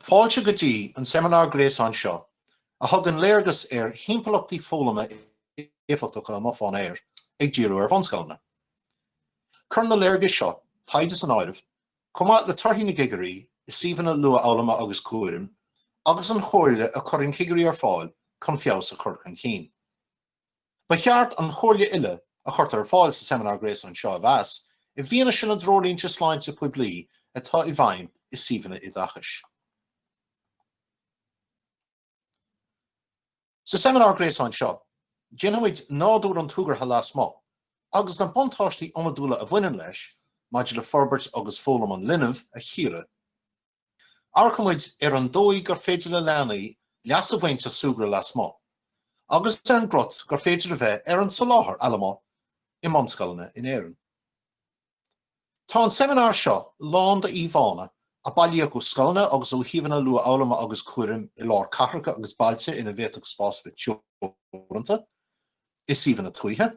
Fáilte go dtí an seimineár gréasáin seo a thugann léargas ar thimpeallachtaí foghlama éifeachtacha amuigh fán aer, ag díriú ar bhunscoileanna. Cuireann na léargais seo taighde san áireamh, Chomh maith le torthaí na gcigirí i suíomhanna luathfhoghlama agus cúraim, agus an chomhairle a chuireann cigirí ar fáil chun feabhas a chur chun cinn, ba cheart an chomhairle uile a chuirtear ar fáil sa seimineár gréasáin seo a mheas i bhfianaise na dtreoirlínte sláinte poiblí atá i bhfeidhm i suíomhanna oideachais. Sa seimineár gréasáin seo, déanfaimid nádúr an tsúgartha lasmuigh agus na buntáistí iomadúla a bhaineann leis maidir le forbairt agus foghlaim an linbh a chíoradh. Amharcfaimid ar an dóigh gur féidir le leanaí leas a bhaint as súgradh lasmuigh agus ar an gcruth gur féidir a bheith ar an soláthar allamuigh i mbunscoileanna in Éirinn. Tá an seimineár seo lán d'íomhánna a bailíodh ó scoileanna agus ó shuíomhanna luathfhoghlama agus cúraim i lár cathracha agus bailte ina bhféadfadh spás a bheith teoranta, i suíomhanna tuaithe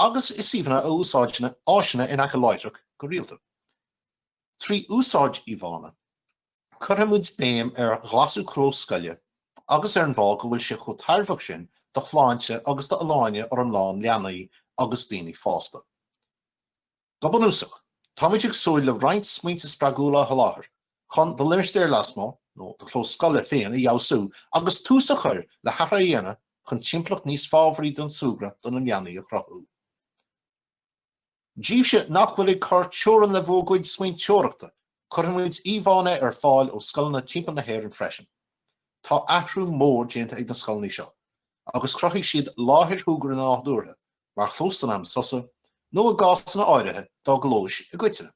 agus i suíomhanna a úsáideann áiseanna in aice láithreach go rialta. Trí úsáid íomhánna, cuirfidh muid béim ar ghlasú clós scoile agus ar an bhfáth go bhfuil sé chomh tairbheach sin do shláinte agus d'fholláine fhoriomlán leanaí agus daoine fásta. Go bunúsach, táimid ag súil le roinnt smaointe spreagúla a sholáthar chun do limistéar lasmuigh nó do chlós scoile féin a fheabhsú agus tús a chur le hathrú a dhéanamh chun timpeallacht níos fábhraí don súgradh do na leanaí a chruthú. Daoibhse nach bhfuil ag cur teorann le bhur gcuid smaointeoireachta, cuirfimid íomhánna ar fáil ó scoileanna timpeall na hÉireann freisin. Tá athrú mór déanta ag na scoileanna seo, agus chruthaigh siad láthair shúgartha nádúrtha mar chlós don am sosa, nó i gcásanna áirithe, dá gclóis i gcoitinne.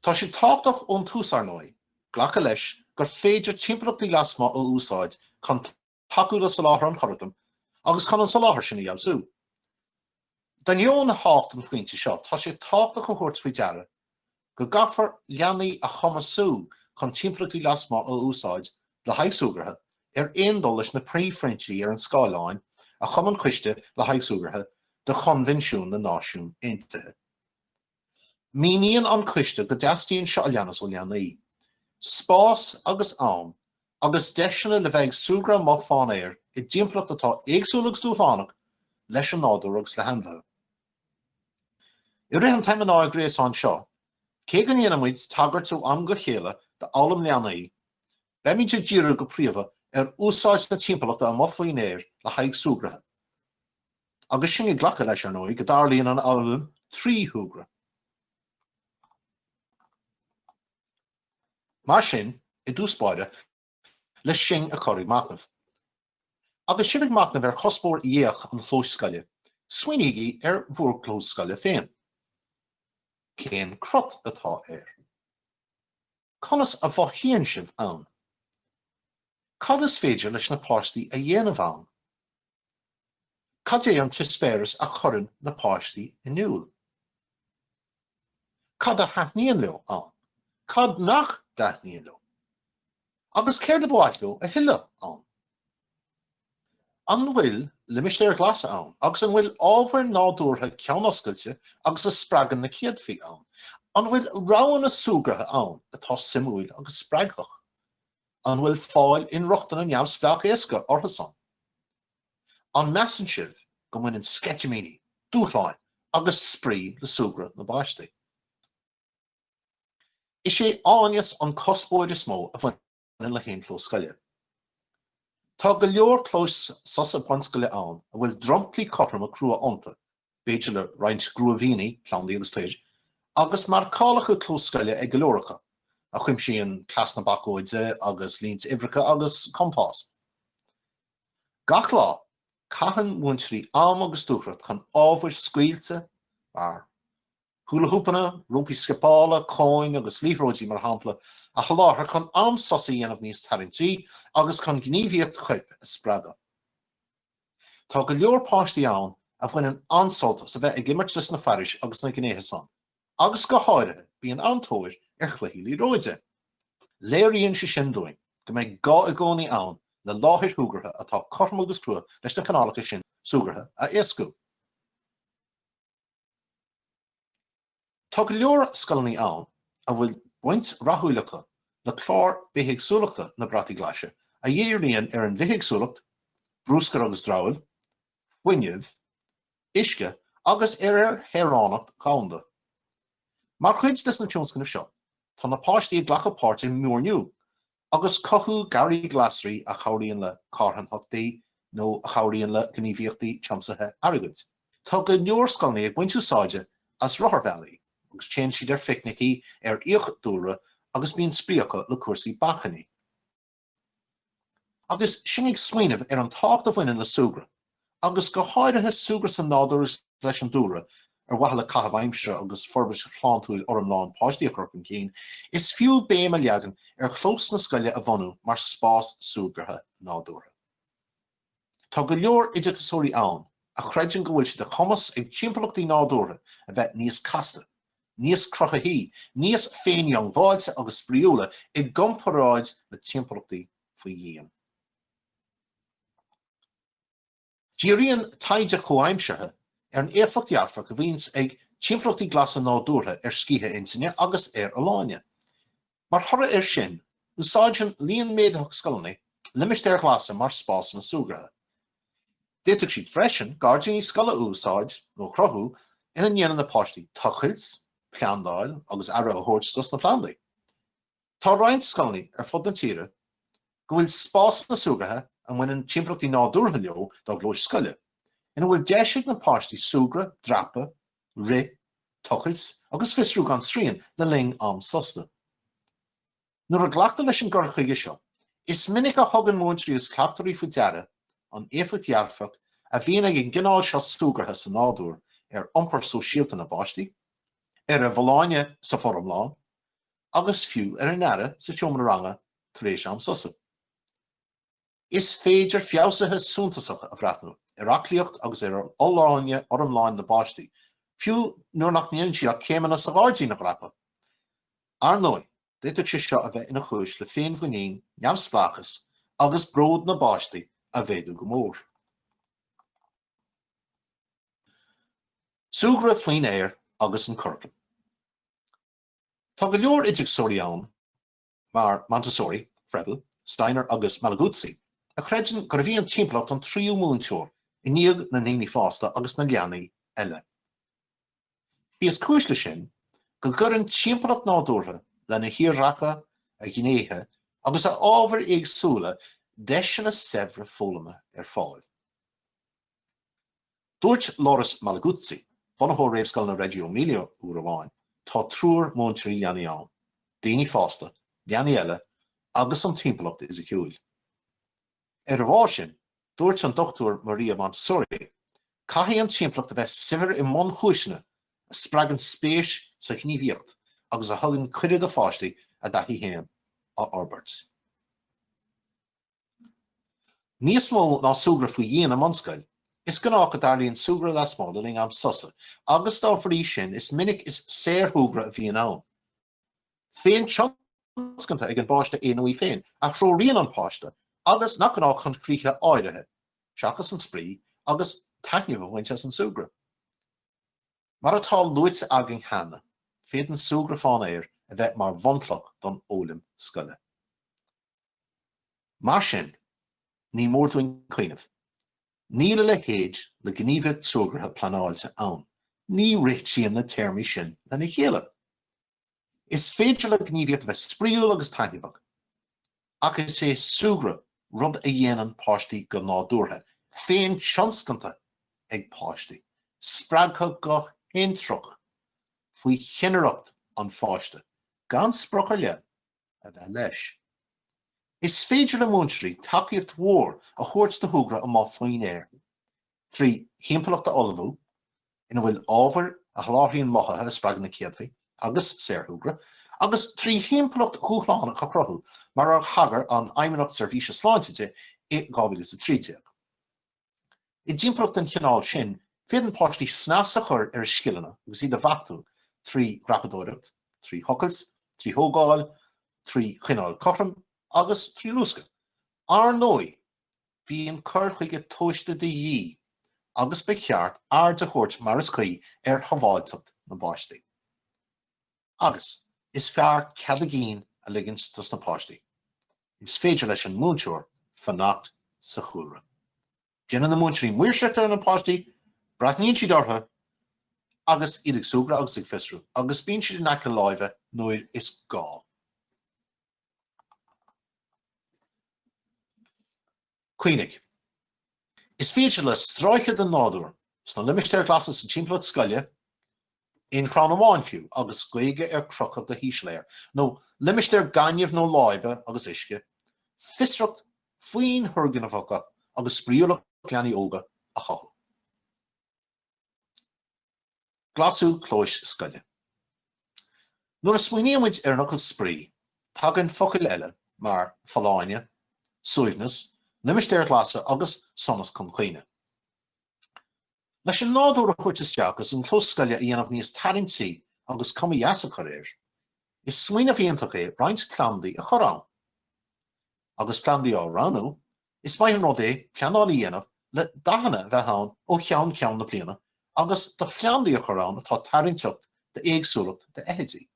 Tá sé tábhachtach ón tús, ar ndóigh, glacadh leis gur féidir timpeallachtaí lasmuigh a úsáid chun tacú le soláthar an churaclaim agus chun an soláthar sin a fheabhsú. D'ainneoin thábhacht an phointe seo, tá sé tábhachtach a thabhairt faoi deara go gcaithfear leanaí a chumasú chun timpeallachtaí lasmuigh a úsáid le haghaidh súgartha, ar aon dul leis na príomhphointí ar an scáileán a chum an Coiste le haghaidh Súgartha de Choinbhinsiún na Náisiún Aontaithe. Míníonn an Coiste go dteastaíonn seo a leanas ó leanaí, spás agus am agus deiseanna le bheith ag súgradh amuigh fán aer i dtimpeallacht atá éagsúil agus dúshlánach leis an nádúr agus le hainmhithe. I rith an tseimineáir gréasáin seo, cé go ndéanfaidh muid tagairt ó am go chéile d'fhoghlaim leanaí, beimid ag díriú go príomha ar úsáid na timpeallachta amuigh faoin aer le haghaidh súgartha. Agus sinn ag glacadh leis, ar ndóigh, go dtarlaíonn an fhoghlaim trí shúgradh. Mar sin, i dtús báire, le sinn a chur ag machnamh. Agus sibh ag machnamh ar chuspóir dheá-chlós scoile, smaoinígí ar bhur gclós scoile féin. Cén cruth atá air? Conas a mhothaíonn sibh ann? Cad is féidir leis na páistí a dhéanamh ann? Cad é an t-eispéireas a chuireann na páistí in iúl? Cad a thaitníonn leo ann? Cad nach dtaitníonn leo? Agus céard ba mhaith leo tuilleadh ann? An bhfuil limistéir ghlasa ann agus an bhfuil ábhair nádúrtha ceann-oscailte agus a spreagann na céadfaí ann? An bhfuil roghanna súgartha ann atá suimiúil agus spreagthach? An bhfuil fáil inrochtana neamhspleách éasca orthu san? An measann sibh go mbaineann sceitimíní, dúshláin agus spraoi le súgradh na bpáistí? Is é áineas an cuspóir is mó a bhaineann le haon chlós scoile. Tá go leor clóis sosa bunscoile ann a bhfuil dromchlaí cothroma crua iontu, b'fhéidir le roinnt gruaimhní, plandaí agus toir, agus marcálacha clós scoile ag go leor acu, a chuimsíonn cleas na bacóide agus línte uimhreacha agus compás. Gach lá, caitheann múinteoirí am agus dúthracht chun ábhair scaoilte, mar húlahúpanna, rópaí scipeála, cóin agus liathróidí, mar shampla, a sholáthar chun am sosa a dhéanamh níos tarraingtí agus chun gníomhaíocht choirp a spreagadh. Tá go leor páistí ann a bhaineann an-sult as a bheith ag imirt leis na fearais agus na gnéithe san. agus go háirithe bíonn an-tóir ar chluichí liathróide. Léiríonn sé sin dúinn go mbeidh gá i gcónaí ann le láthair shúgartha atá cothrom agus crua leis na cineálacha sin súgartha a éascú. Tá go leor scoileanna ann a bhfuil baint rathúil acu le clár bithéagsúlachta na Brataí Glaise a dhíríonn ar an bhithéagsúlacht, bruscar agus dramhaíl, fuinneamh, uisce agus ar ar shaoránacht dhomhanda. Mar chuid des na tionscnaimh seo, tá na páistí ag glacadh páirt i muirniú agus cothú garraí glasraí a chabhraíonn le carthanachtaí nó a chabhraíonn le gníomhaíochtaí tiomsaithe airgid. Tá go leor scoileanna ag baint úsáide as rotharbhealaí agus téann siad ar phicnicí ar fhiach dúlra agus bíonn spraoi acu le cúrsaí bacainní. Agus sinn ag smaoineamh ar an tábhacht a bhaineann le súgradh, agus go háirithe súgradh sa nádúr is leis an dúlra, ar mhaithe le caitheamh aimsire agus forbairt shláintiúil fhoriomlán páistí a chur chun cinn, is fiú béim a leagan ar chlós na scoile a bhunú mar spás súgartha nádúrtha. Tá go leor oideachasóirí ann a chreideann go bhfuil sé de chumas ag timpeallachtaí nádúrtha a bheith níos casta, níos cruthaithí, níos féindhiongbháilte agus spraíúla i gcomparáid le timpeallachtaí faoi dhíon. Díríonn taighde comhaimseartha ar an éifeacht dhearfach a bhíonn ag timpeallachtaí glasa nádúrtha ar scíth intinne agus ar fholláine. Mar thoradh air sin, úsáideann líon méadaitheach scoileanna limistéir ghlasa mar spásanna súgartha. D'fhéadfadh siad freisin gairdíní scoile a úsáid nó a chruthú ina ndéanann na páistí tochailt, plandáil agus aire a thabhairt dos na plandaí. Tá roinnt scoileanna ar fud na tíre go bhfuil spásanna súgartha a mbaineann timpeallachtaí nádúrtha leo dá gclóis scoile, ina bhfuil deis ag na páistí súgradh, dreapadh, Rith, tochailt agus fiosrú gan srian le linn am sosta. Nuair a ghlactar leis an gcur chuige seo, is minic a thugann múinteoirí is cleachtóirí faoi deara an éifeacht dhearfach a bhíonn ag an gcineál seo súgartha sa nádúr ar iompar sóisialta na bpáistí, ar a bhfolláine san fhoriomlán agus fiú ar a n-aire sa seomra ranga tar éis am sosta. Is féidir feabhsuithe suntasacha a bhreathnú ar aclaíocht agus ar fholláine fhoriomlán na bpáistí, fiú nuair nach ndéanann siad ach céimeanna sa ghairdín a dhreapadh. Ar ndóigh, d'fhéadfadh sé seo a bheith ina chúis le féinmhuinín, neamhspleáchas agus bród na bpáistí a mhéadú go mór. Súgradh faoin aer agus an curaclam. Tá go leor oideachasóirí ann mar Montessori, Froebel, Steiner agus Malaguzzi, a chreideann gurbh í an timpeallacht an tríú múinteoir i ndiaidh na ndaoine fásta agus na leanaí eile. Is í is cúis leis sin go gcuireann timpeallacht nádúrtha lena thírdhreacha, a ghnéithe agus a ábhair éagsúla deiseanna saibhre foghlama ar fáil. Dúirt Loris Malaguzzi, bunaitheoir Réamhscoileanna Reggio Emilia, uair amháin, Tá triúr múinteoirí leanaí ann, daoine fásta, leanaí eile agus an timpeallacht fhisiciúil. Ar a bharr sin, dúirt an Dr Maria Montessori, Caithfidh an timpeallacht a bheith saibhir i mbunchúiseanna a spreagann spéis sa ghníomhaíocht agus a thugann cuireadh do pháistí a dtaithí féin a fhorbairt. Níos mó ná súgradh faoi dhíon i mbunscoil, is gnách go dtarlaíonn súgradh lasmuigh le linn am sosa agus dá bhrí sin is minic is saorshúgradh a bhíonn ann. féintionscanta ag an bpáiste é nó í féin a threoraíonn an páiste agus nach gnách chun críche áirithe seachas an spraoi agus taitneamh a bhaint as an súgradh. Mar atá luaite againn cheana, féadann súgradh fán aer a bheith mar bhunchloch don fhoghlaim scoile. Mar sin, ní mór dúinn cuimhneamh, níl a leithéid le gníomhaíocht súgartha pleanáilte ann, ní réitíonn na téarmaí sin lena chéile. Is féidir le gníomhaíocht a bheith spraíúil agus taitneamhach, ach is é súgradh rud a dhéanann páistí go nádúrtha, féin-tionscanta ag páistí, spreagtha go hintreach faoi chinnireacht an pháiste, gan sprioc ar leith a bheith leis. Is féidir le múinteoirí tacaíocht mhór a thabhairt do shúgradh amuigh faoin aer trí thimpeallacht a ullmhú ina bhfuil ábhair a sholáthraíonn mothuithe a spreagann na céadfaí agus saorshúgradh, agus trí thimpeallacht dhúshlánach a chruthú, mar a thagair an Fheidhmeannacht Seirbhíse Sláinte di i 2013. I dtimpeallacht den chineál sin, féadann páistí snas a chur ar a scileanna agus iad a bheachtú trí dhreapadóireacht, trí thochailt, trí thógáil, trí choinneáil cothrom agus trí luascadh. Ar ndóigh, bíonn cur chuige tomhaiste de dhíth agus ba cheart aird a thabhairt mar is cuí ar shábháilteacht na bpáistí. Agus, is fearr cead a gcinn a ligint dos na páistí. Is féidir leis an múinteoir fanacht sa chúlra. Déanann na múinteoirí maoirseacht ar na páistí, breathnaíonn siad orthu agus iad ag súgradh agus ag fiosrú, agus bíonn siad in aice láimhe nuair is gá. Cuimhnigh, is féidir le stráice den nádúr sna limistéir ghlasa sa timpeallacht scoile, aon chrann amháin fiú agus géaga ar crochadh go híseal air, nó limistéar gainimh nó láibe agus uisce, fiosracht, foinn thurgnamhacha agus spraíúlacht leanaí óga a chothú. Glasú clóis scoile. Nuair a smaoinímid ar an fhocal spraoi, tagann focail eile mar folláine, suaimhneas, limistéir ghlasa agus sonas chun cuimhne. Leis an nádúr a thabhairt isteach agus an clós scoile a dhéanamh níos tarraingtí agus cuma dheas a chur air, is smaoineamh iontach é roinnt plandaí a chur ann. Agus plandaí á roghnú, is maith an rud é pleanáil a dhéanamh le dathanna a bheith ann ó cheann ceann na bliana agus do phlandaí a chur ann atá tarraingteach d'éagsúlacht d'fheithidí.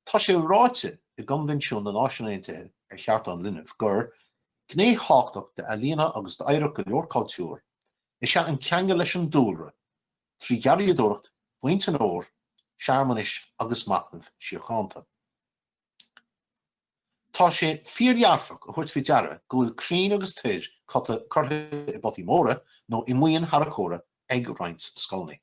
Tá sé ráite i gCoinbhinsiún na Náisiún Aontaithe ar Chearta an Linbh gur gné thábhachtach d'ealaíona agus d'oidhreacht go leor cultúr is ea an ceangal leis an dúlra trí gharraíodóireacht, baint an fhómhair, searmanais agus machnamh síochánta. Tá sé fíordhearfach a thabhairt faoi deara go bhfuil crainn agus toir curtha i bpotaí móra nó i mboinn tharracóra ag roinnt scoileanna.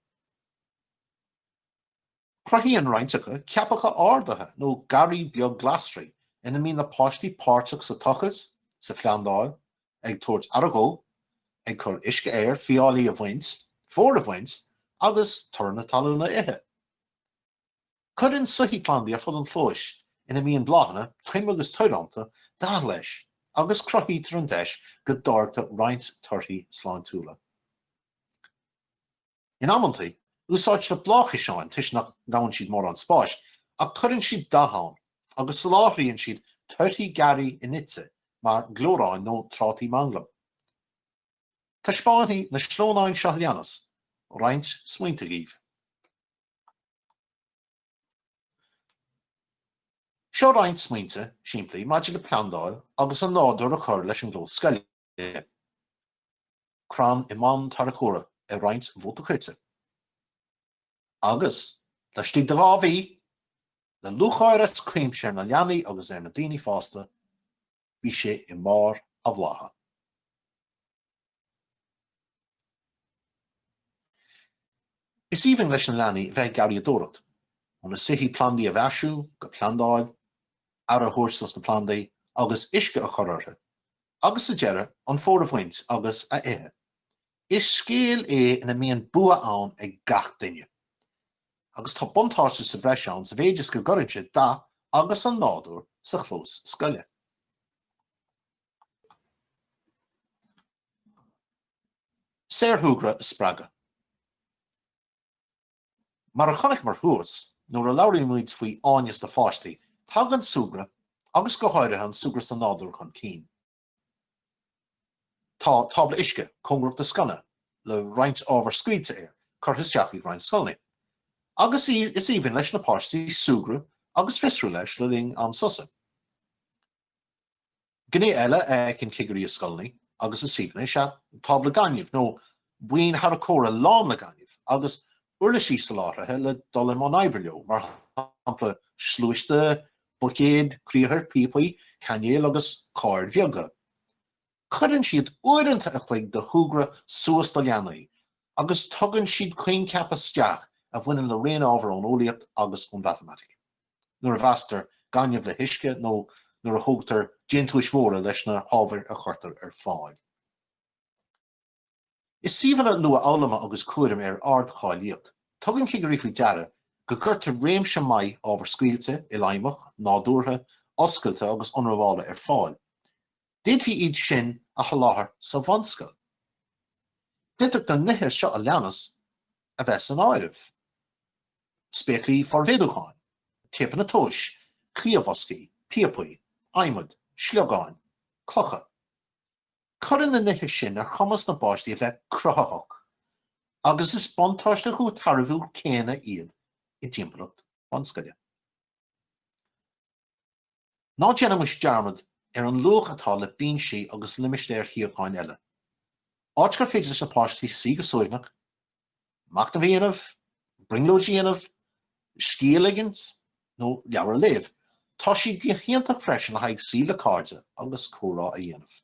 Cruthaíonn roinnt acu ceapacha ardaithe nó garraí beag glasraí ina mbíonn na páistí páirteach sa tochailt, sa phlandáil, ag tabhairt aire dó, ag cur uisce air, fiáilí a bhaint, fómhar a bhaint agus toradh na talún a ithe. Cuireann soithí plandaí ar fud an chlóis ina mbíonn bláthanna, toim agus toir iontu, dath leis agus cruthaítear an deis go dtáirgtear roinnt torthaí sláintiúla. In amanntaí, úsáidtear bláthchiseáin toisc nach ngabhann siad mórán spáis, ach cuireann siad dath ann agus soláthraíonn siad torthaí garraí inite mar gleorráin nó trátaí manglam. Taispeánfaidh na sleamhnáin seo leanas roinnt smaointe dhaoibh. Seo roinnt smaointe simplí maidir le plandáil agus an nádúr a chur leis an gclós scoile, crann i mbonn tarracóra ar roinnt mhóta coirte, agus, laistigh de dhá mhí, le lúcháir as cuimse ar na leanaí agus ar na daoine fásta, bhí sé i mbarr a bhlátha. Is aoibhinn leis na leanaí a bheith ag garraíodóireacht, óna soithí plandaí a mhaisiú, go plandáil, aire a thabhairt dos na plandaí agus uisce a chur orthu, agus sa deireadh, an fómhar a bhaint agus a ithe! Is scéal é ina mbíonn bua ann ag gach duine. Agus tá buntáiste sa bhreis ann sa mhéid is go gcuireann sé dath agus an nádúr sa chlós scoile. Saorshúgradh a spreagadh. Mar a chonaiceamar thuas, nuair a labhraímid faoi áineas do pháistí, tagann súgradh, agus go háirithe an súgradh sa nádúr chun cinn. Tá tábla uisce cóngarach do sconna le roinnt ábhar scaoilte air curtha isteach ag roinnt scoileanna agus is aoibhinn leis na páistí súgradh agus fiosrú leis le linn am sosa. Gné eile a fheiceann cigirí i scoileanna agus i suíomhanna is ea tábla gainimh nó boinn tharracóra lán le gaineamh agus uirlisí soláthraithe le dul i mbun oibre leo, mar shampla sluaiste, buicéid, criathair, píopaí, cainéil agus cairr bheaga. Cuireann siad uaireanta a chloig de shúgradh suas do leanaí agus tugann siad coincheapa isteach a bhaineann le raon ábhar ón eolaíocht agus ón mhatamaitic, nuair a mheasctar gaineamh le huisce nó nuair a thógtar déantúis mhóra leis na hábhair a chuirtear ar fáil. I suíomhanna luathfhoghlama agus cúraim ar ardcháilíocht, tugann cigirí faoi deara go gcuirtear réimse maith ábhar scaoilte, ilfheidhmeach, nádúrtha, oscailte agus ionramhála ar fáil. D'fhéadfaí iad sin a sholáthar sa bhunscoil. D'fhéadfadh na nithe seo a leanas a bheith san áireamh, spéaclaí formhéadúcháin, téipeanna tomhais, cliathbhoscaí, píopaí, adhmad, sliogáin, clocha. Cuireann na nithe sin ar chumas na bpáistí a bheith cruthaitheach agus is buntáiste chomh tairbhiúil céanna iad i dtimpeallacht bunscoile. Ná déanaimis dearmad ar an luach atá le binsí agus limistéir shuíocháin eile, áit gur féidir leis na páistí suí go suaimhneach Machnamh a dhéanamh, brionglóid a dhéanamh, scíth a ligint, nó leabhar a léamh. Tá sé go hiontach freisin le haghaidh suí le cairde agus comhrá a dhéanamh.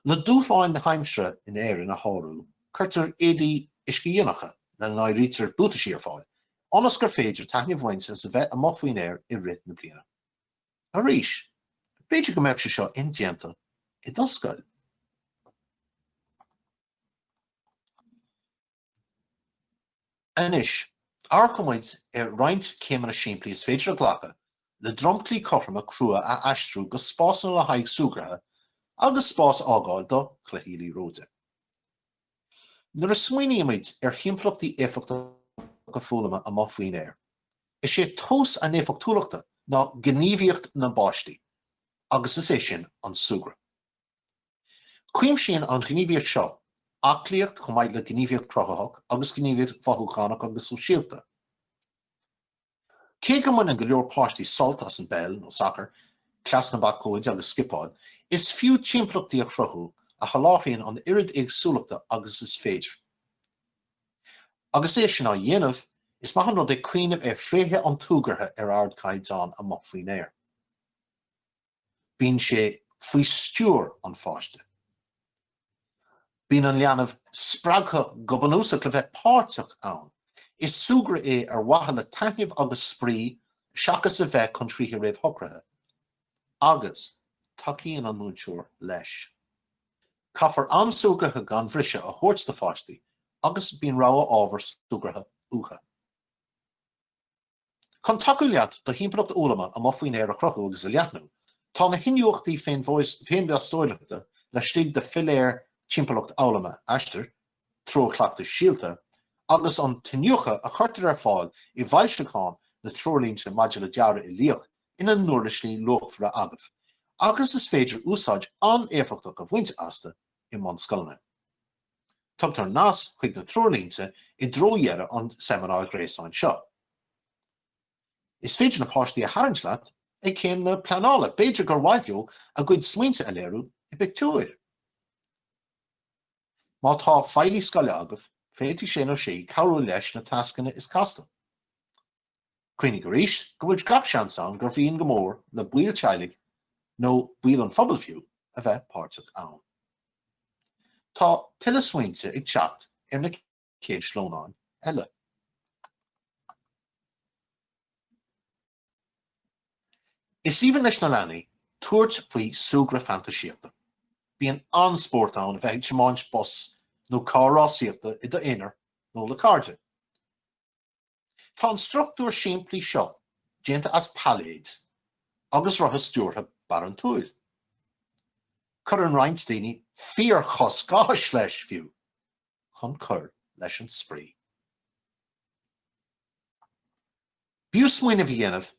Le dúshláin na haimsire in Éirinn a shárú, cuirtear éadaí uiscedhíonacha, lena n-áirítear buataisí, ar fáil, ionas gur féidir taitneamh a bhaint as a bheith amuigh faoin aer i rith na bliana. Arís, b'fhéidir go mbeadh sé seo indéanta i do scoil. Anois, amharcfaidh muid ar roinnt céimeanna simplí is féidir a ghlacadh le dromchlaí cothroma crua a aistriú go spásanna le haghaidh súgartha agus spás a fhágáil do chluichí liathróide. Nuair a smaoinímid ar thimpeallachtaí éifeachtacha foghlama amuigh faoin aer, is é tomhas a n-éifeachtúlachta ná gníomhaíocht na bpáistí, agus is é sin an súgradh. Cuimsíonn an ghníomhaíocht seo aclaíocht chomh maith le gníomhaíocht chruthaitheach agus gníomhaíocht mhothúchánach agus sóisialta. Cé go mbaineann go leor páistí sult as an bpeil nó sacar, cleas na bacóide agus scipeáil, is fiú timpeallachtaí a chruthú a sholáthraíonn an oiread éagsúlachta agus is féidir. Agus é sin á dhéanamh, is maith an rud é cuimhneamh ar thréithe an tsúgartha ar ardchaighdeán amuigh faoin aer. bíonn sé faoi stiúir an pháiste. Bíonn an leanbh spreagtha go bunúsach le bheith páirteach ann. Is súgradh é ar mhaithe le taitneamh agus spraoi seachas a bheith chun críche réamhshocraithe. Agus tacaíonn an múinteoir leis. Caithfear am súgartha gan bhriseadh a thabhairt do pháistí agus bíonn rogha ábhar súgartha uathu. Chun tacú leat do thimpeallacht fhoghlama amuigh faoin aer a chruthú agus a leathnú, tá na hiniúchtaí féinmheastóireachta laistigh de philéir Timpeallacht Fhoghlama Aistear, Treoir Chleachtais Síolta, agus an t-iniúchadh a chuirtear ar fáil i bhfoilseachán na Treoirlínte maidir le Dearadh Uilíoch ina n-uirlisí luachmhara agaibh agus is féidir úsáid an-éifeachtach a bhaint astu i mbunscoileanna. Tugtar nasc chuig na treoirlínte i dtreo dheireadh an tseimineáir ghréasáin seo. Is féidir na páistí a tharraingt leat ag céim na pleanála, b'fhéidir gur mhaith leo a gcuid smaointe a léiriú i bpictiúir. Má tá feighlí scoile agaibh, féadfaidh sé nó sí cabhrú leis na tascanna is casta. Cuimhnigh arís go bhfuil gach seans ann gur mhian go mór le baill teaghlaigh, nó baill an phobail fiú, a bheith páirteach ann. Tá tuilleadh smaointe ag teacht ar na chéad sleamhnáin eile. Is aoibhinn leis na leanaí tabhairt faoi súgradh fantaisíochta. Bíonn an-spórt ann a bheith ag tiomáint bus nó carr rásaíochta i d'aonar nó le cairde. Tá an struchtúr simplí seo déanta as pailléid agus rotha stiúrtha barantúil. Cuireann roinnt daoine fíorchosc áthais leis, fiú, chun cur leis an spraoi. B'fhiú smaoineamh a dhéanamh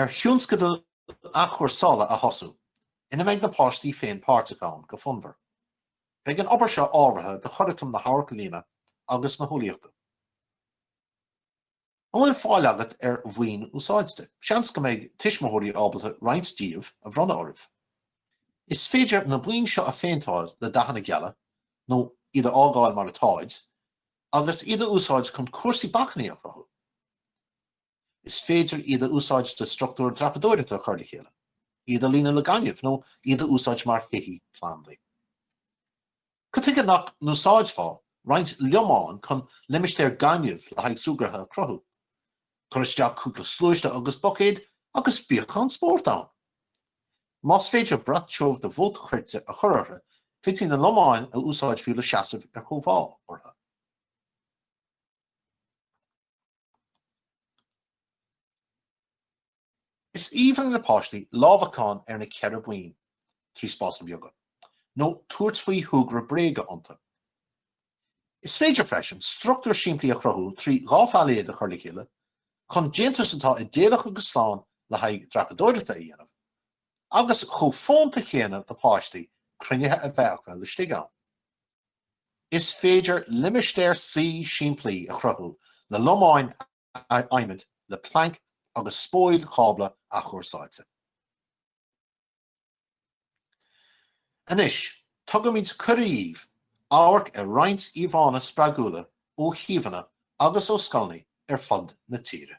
ar thionscadal athchúrsála a thosú ina mbeidh na páistí féin páirteach ann go fonnmhar. Beidh an obair seo ábhartha do churaclam na hAmharcealaíona agus na hEolaíochta. An bhfuil fáil agat ar bhoinn úsáidte? Seans go mbeidh tuismitheoirí ábalta roinnt díobh a bhronnadh oraibh. Is féidir na boinn seo a phéinteáil le dathanna geala, nó iad a fhágáil mar atáid, agus iad a úsáid chun cúrsaí bacainní a chruthú. Is féidir iad a úsáid le struchtúir dreapadóireachta a chur le chéile, iad a líonadh le gaineamh nó iad a úsáid mar shoithí plandaí. Cad chuige nach n-úsáidfeá roinnt lomán chun limistéar gainimh le haghaidh súgartha a chruthú? Cuir isteach cúpla sluaiste agus buicéad agus bíodh an-spórt ann! Más féidir brat tiubh de mhóta choirte a chur orthu, féadfaí na lomáin a úsáid fiú le seasamh ar chóimheá orthu. Is aoibhinn le páistí lámhacán ar na ceithre boinn trí spásanna beaga, nó tabhairt faoi shúgradh bréige iontu. Is féidir freisin struchtúr simplí a chruthú trí dhá phailéad a chur le chéile chun déantús atá idéalach agus slán le haghaidh dreapadóireachta a dhéanamh, agus chomh fónta chéanna do páistí cruinnithe a bheith acu laistigh ann. Is féidir limistéar suí simplí a chruthú le lomáin adhmaid le plainc agus spóil chábla athchúrsáilte. Anois, tugaimid cuireadh daoibh amharc ar roinnt íomhánna spreagúla ó shuíomhanna agus ó scoileanna ar fud na tíre.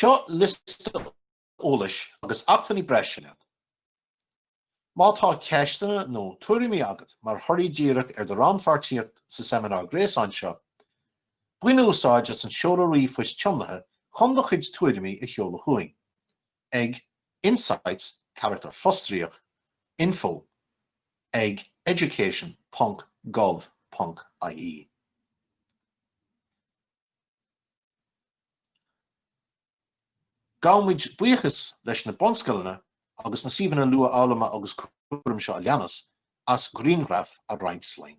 Seo liosta eolais agus acmhainní breise leat. Má tá ceisteanna nó tuairimí agat mar thoradh díreach ar do rannpháirtíocht sa seimineár gréasáin seo, bain úsáid as an seoladh ríomhphoist tiomnaithe chun do chuid tuairimí a sheoladh chugainn. ag insights carachtar fostríoc info ag education ponc gov ponc ie. Gabhaimid buíochas leis na bunscoileanna agus na suíomhanna luathfhoghlama agus cúraim seo a leanas as grianghraif a roinnt linn.